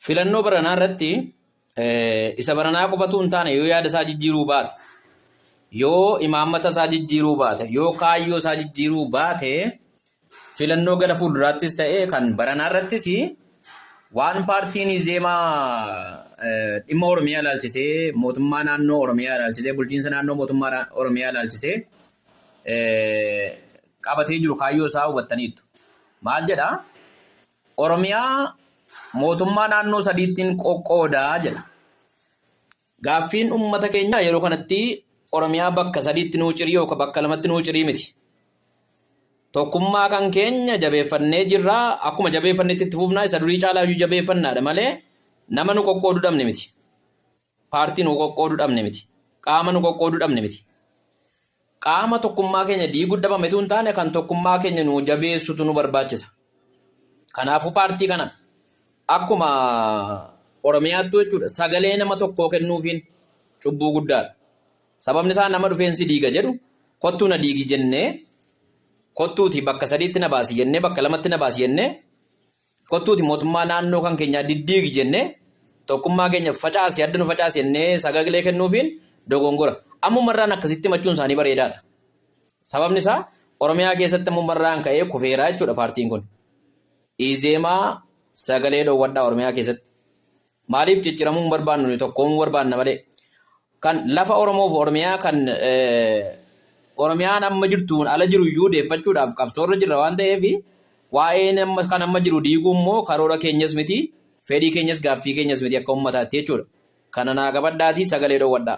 Filannoo baranaa irratti isa baranaa qofatu hin taane yoo yaada isaa jijjiiruu baate yoo imaammata isaa jijjiiruu baate yoo kaayyoo isaa jijjiiruu baate filannoo gara fuulduraattis ta'e kan baranaa irrattis waan paartiin Izeemaa dhimma Oromiyaa ilaalchisee mootummaa naannoo Oromiyaa ilaalchisee bulchiinsa naannoo mootummaa Oromiyaa ilaalchisee qabatee jiru kaayyoo isaa hubattaniittu. Maal jedha? Oromiyaa mootummaa naannoo sadiittiin qoqqoodaa jedha. Gaaffiin uummata keenyaa yeroo kanatti Oromiyaa bakka sadiitti nuu cirii yookaan bakka lamatti nuu cirii miti. Tokkummaa kan keenya jabeeffannee jirra. Akkuma jabeeffannetti itti fufnaa isa durii caalaa iyyuu jabeeffannaadha malee nama nu qoqqoodu dhabne miti. Paartii nu qoqqooduu dhabne miti. Qaama nu qoqqooduu dhabne miti. Qaama tokkummaa keenya diiguu dhabametu hin taane kan tokkummaa keenya nu jabeessutu nu barbaachisa. Kanaafuu paartii kana akkuma Oromiyaattuu jechuudha sagalee nama tokkoo kennuufiin cubbuu guddaadha. Sababni isaa nama dhufeensi diiga jedhu kottuu na diigi jennee kottuuti bakka sadiitti na baasi jennee bakka lamatti na baasi jennee Kottuuti mootummaa naannoo kan keenyaa diddiigi jennee tokkummaa keenya facaasi adda nu facaasi jennee sagalee kennuufiin dogongora. Ammumarraan akkasitti himachuun isaanii bareedaadha. Sababni isaa Oromiyaa keessatti ammumarraan ka'ee kufeeraa jechuudha paartiin kun. Izeemaa sagalee dhoowwadhaa Oromiyaa keessatti. Maaliif cicciramuun barbaannu tokkoomuu barbaanna malee. Kan lafa Oromoo fi Oromiyaa kan Oromiyaan amma jirtuun ala jiru iyyuu deeffachuudhaaf qabsoorra jirra waan ta'eef waa'een amma kan amma jiru diiguu immoo karoora keenyas miti fedhii keenyas gaaffii keenyas miti akka ummataatti jechuudha. Kana naa qabadhaatii sagalee dhoowwadhaa.